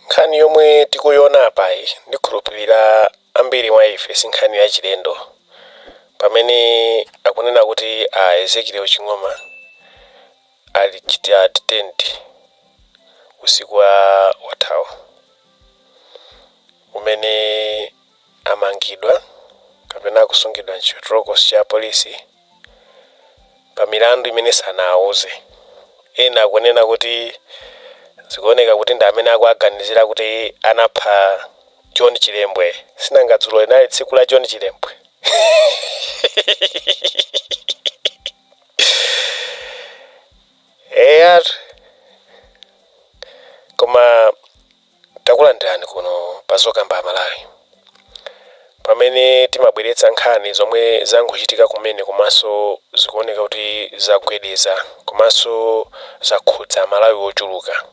nkhani yomwe tikuiona apayi ndikhulupirira ambiri mwa ife si nkhani yachilendo pamene akunena kuti a ezekiel ching'oma ali chita detained usiku wathawu umene amangidwa kapena akusungidwa m'chitolokosi cha apolisi pa milandu imene sanawauze. Ena akunena kuti zikuoneka kuti ndi amene akuwaganizira kuti anapha John Chilembwe. Sinanga dzulo linali tsiku la John Chilembwe? Koma Takulandirani kuno pa Zokamba Malawi, pamene timabweretsa nkhani zomwe zangochitika kumene komanso zikuoneka kuti zagwedeza komanso zakhudza Amalawi ochuluka.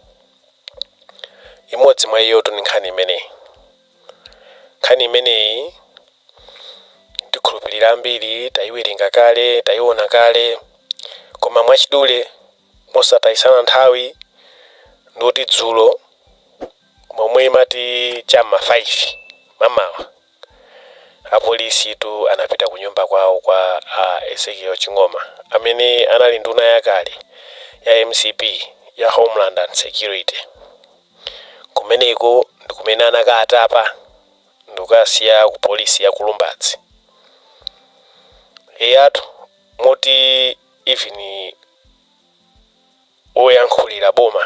Imodzi mwa iyotu ndi nkhani imeneyi. Nkhani imeneyi ndikhulupirira ambiri taiwerenga kale, taiona kale, koma mwachidule. Mosatayisana nthawi ndikuti dzulo momwe imati cha m'ma 5 mamawa apolisitu anapita kunyumba kwawo kwa a Ezekiel Ching'oma amene anali nduna yakale ya mcp ya Homeland and Security. Kumeneko ndikumene anakaatapa ndikukasiya ku polisi ya ku Lumbadzi. Eyatu moti. even oyankhulira boma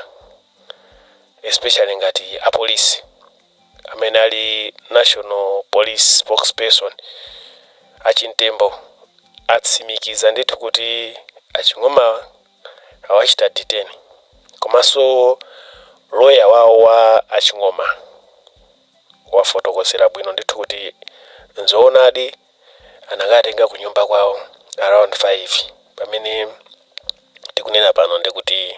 especially ngati apolisi amene ali national police spokesperson achimtembo atsimikiza ndithu kuti aching'oma awachita detain komanso loya wawo wa aching'oma wafotokozera bwino ndithu kuti nzoonadi anakatenga kunyumba kwawo around 5 pamene tikunena pano ndekuti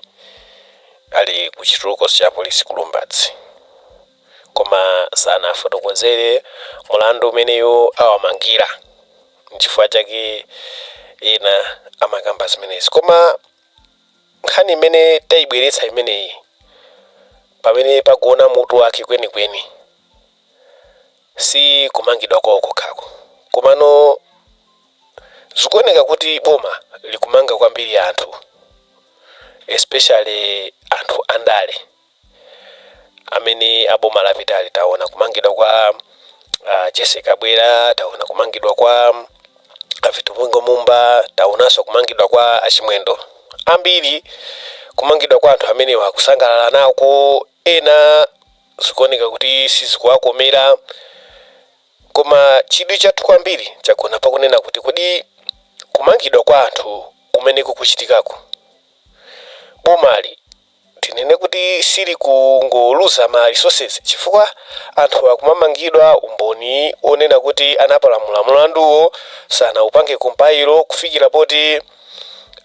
ali ku chitolokosi cha polisi ku lumbadzi koma sanafotokozere mulandu umene iwo awamangira nchifukwa chake ena amakamba zimenezi koma nkhani imene tayibweretsa imeneyi pamene pakuona mutu wake kwenikweni Si kumangidwa kwawo kokhako, komano zikuoneka kuti boma likumanga kwambiri anthu especially anthu andale amene a boma lapitali taona kumangidwa kwa a Jessie Kabwila, taona kumangidwa kwa a Vitumbiko Mumba, taonanso kumangidwa kwa a Chimwendo ambiri kumangidwa kwa anthu amenewa akusangalala nako ena Zikuoneka kuti sizikuwakomera. Koma chidwi chathu kwambiri chagona pa kunena kuti, kodi kumangidwa kwa anthu kumene kukuchitikako, bomali tinene kuti silikungoluza ma resources chifukwa anthu akumamangidwa umboni wonena kuti anapalamula mlanduwo sanaupange compile kufikira poti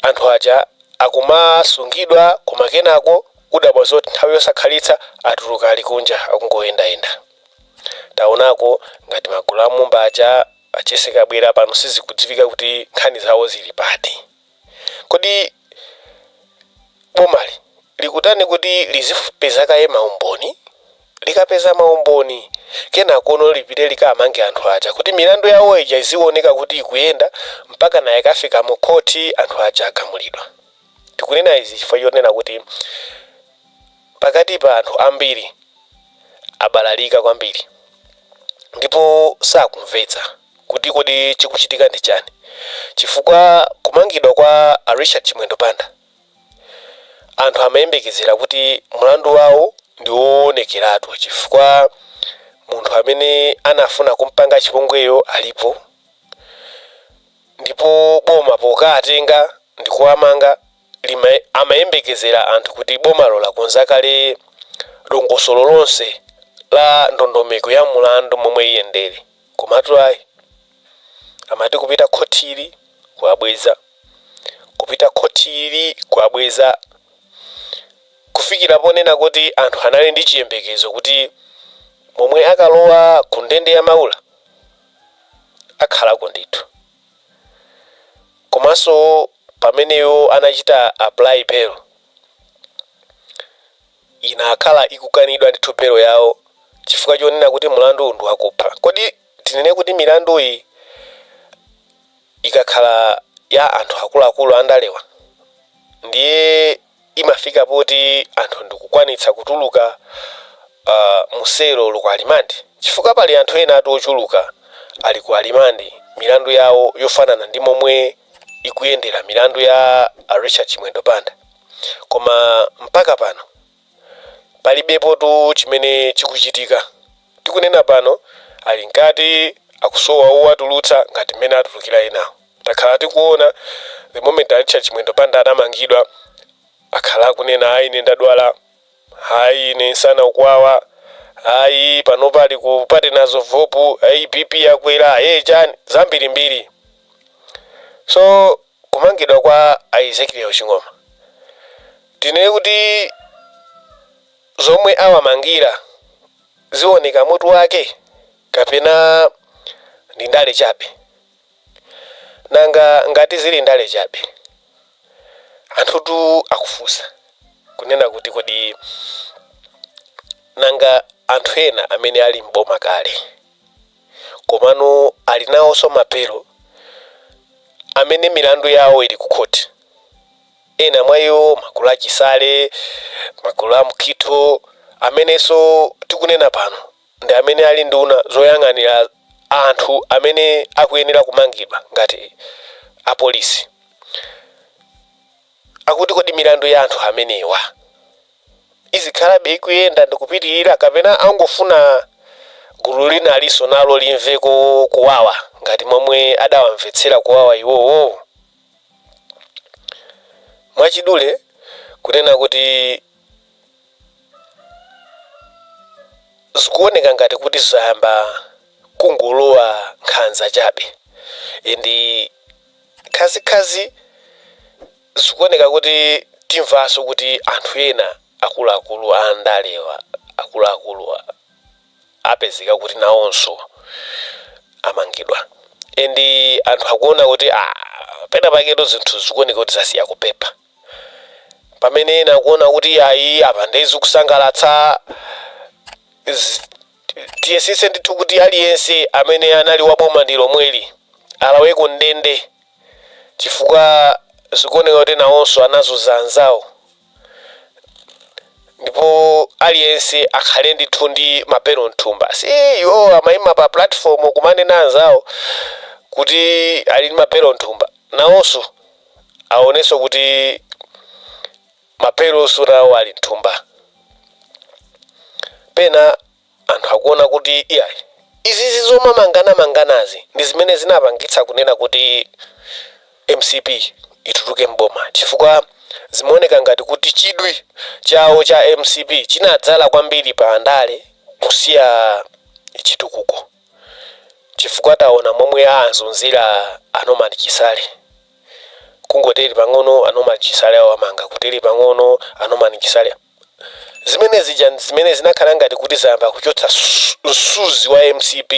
anthu aja akumasungidwa koma kenako udabwa zoti nthawi yosakhalitsa atuluka ali kunja akungoyendayenda. Taonako ngati magulu a Mumba aja a Jessie Kabwila pano sizikudziwika kuti nkhani zawo zili pati. Kodi bomali likutani kuti lizipeza kaye ma umboni? Likapeza ma umboni kenakono lipite likamange anthu aja kuti milandu yawo ija iziwoneka kuti ikuyenda mpakana ikafika mu khothi anthu aja agamulidwa. Tikunena izi chifukwa chonena kuti pakati pa anthu ambiri abalalika kwambiri ndipo sakumvetsa kuti kodi chikuchitika ndi chani chifukwa kumangidwa kwa a Richard Chimwendo Banda anthu amayembekezera kuti mlandu wawo ndi wowonekeratu chifukwa munthu amene anafuna kumpanga chipongweyo alipo Ndipo boma pokaatenga ndikuwamanga amayembekezera anthu kuti bomalo lakonza kale dongosolo lonse la ndondomeko ya mulandu momwe iyendere komatu ayi amati kupita khothili kuwabweza kupita khothili kuwabweza kufikira ponena kuti anthu anali ndi chiyembekezo kuti momwe akalowa ku ndende ya Maula akhalako ndithu komanso pamene iwo anachita apply bail inakhala ikukanidwa ndithu bail yawo chifukwa chonena kuti mlandu ndi wakupha kodi tinene kuti milanduyi ikakhala ya anthu akuluakulu andalewa ndiye imafika poti anthu ndikukwanitsa kutuluka uh, muselo olo ku remand chifukwa pali anthu ena ati ochuluka ali ku remand milandu yawo yofanana ndi momwe ikuyendera milandu ya a richard chimwendo banda koma mpaka pano palibepotu chimene chikuchitika tikunena pano ali mkati akusowa owatulutsa ngati mmene atulukira enawo Takhala tikuona the moment a Richard Chimwendo Banda adamangidwa akhala akunena ayi ine ndadwala, ayi ine nsana ukuwawa, ayi panopa ali ku Partners in Hope, ayi BP yakwera, ayi chani zambirimbiri. So kumangidwa kwa a Ezekiel Ching'oma tinene kuti zomwe awamangira zioneka mutu wake kapena ndi ndale chabe? Nanga ngati zili ndale chabe? Anthutu akufunsa, kunena kuti kodi nanga anthu ena amene ali m'boma kale komano ali nawonso ma bail amene milandu yawo ili kukhoti, ena mwa iwo magulu a Chisale, magulu a Mukhito amenenso tikunena pano ndi amene ali nduna zoyang'anira anthu amene akuyenera kumangidwa ngati apolisi akuti kodi milandu ya anthu amenewa izikhalabe ikuyenda ndikupitirira kapena angofuna gulu lina alinso nalo limveko kuwawa, ngati momwe adawamvetsera kuwawa iwowo mwachidule kunena kuti zikuoneka ngati kuti zayamba kungolowa nkhanza chabe and khazikhazi zikuoneka kuti timvanso kuti anthu ena akuluakulu andalewa akuluakulu apezeka kuti nawonso amangidwa and anthu akuona kuti ah, pena paketo zinthu zikuoneka kuti zasiya kupepa pamene ena akuona kuti ayi apa nde zikusangalatsa Z- tiyesese ndithu kuti aliyense amene anali wa boma ndi lomweli alaweko ndende chifukwa zikuoneka kuti nawonso anazunza anzawo ndipo aliyense akhale ndithu ndi ma bail mthumba si iwo amayima pa platform kumanena anzawo kuti ali ndi ma bail mthumba nawonso aonenso kuti mapelo nawo ali mthumba pena anthu akuona kuti iyayi izizi zomamanganamanganazi ndi zimene zinapangitsa kunena kuti mcp ituluke mboma chifukwa zimaoneka ngati kuti chidwi chawo cha mcp chinadzala kwambiri pa ndale kusiya chitukuko chifukwa taona momwe awazunzira a Norman Chisale kungoteri pang'ono a Norman Chisale awamanga kuteri pang'ono a Norman Chisale zimene zija ndi zimene zinakhala ngati kuti zayamba kuchotsa msuzi wa mcp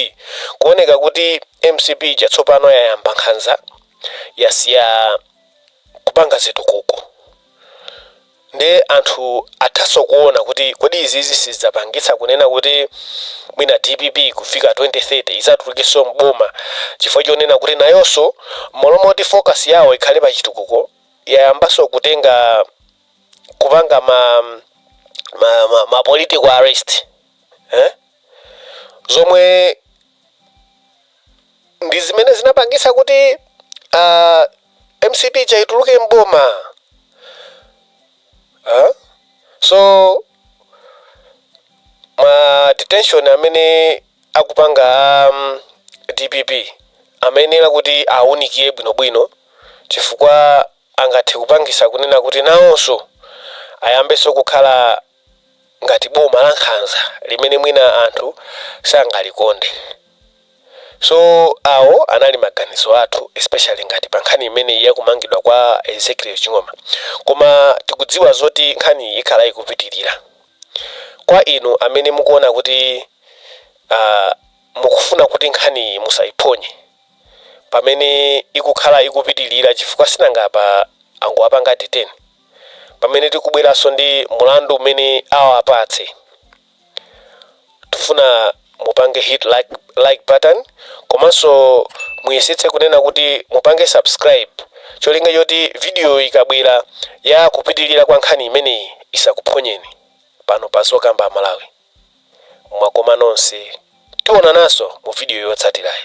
kuoneka kuti mcp ija tsopano yayamba nkhanza yasiya kupanga zitukuko Nde anthu athaso kuona kuti kodi izizi sizidzapangitsa kunena kuti mwina dpp kufika 2030 idzatulukeso m'boma chifukwa chonena kuti nayoso mmalo moti focus yawo ikhale pa chitukuko yayambaso kutenga kupanga ma ma ma ma political arrest eh zomwe ndizimene zinapangitsa kuti a mcp ija ituluke mboma huh? so ma detention amene akupanga a um, dpp amayenera kuti awunikiye bwinobwino chifukwa angathe kupangisa kunena kuti nawonso ayambenso kukhala ngati boma lankhanza limene mwina anthu sangalikonde so awo anali maganizo athu especially ngati pa nkhani imeneyi ya kumangidwa kwa Ezekiel Ching'oma koma tikudziwa zoti nkhaniyi ikhala ikupitirira kwa inu amene mukuona kuti ah, mukufuna kuti nkhaniyi musaiphonye pamene ikukhala ikupitirira chifukwa sinanga apa angowapanga detain pamene tikubweranso ndi mlandu umene awapatse tifuna mupange hit like button komanso muyesetse kunena kuti mupange subscribe cholinga choti video ikabwera ya kupitilira kwa nkhani imeneyi isakuphonyeni pano pa Zokamba Amalawi mwakoma nonse tionananso mu video yotsatirayi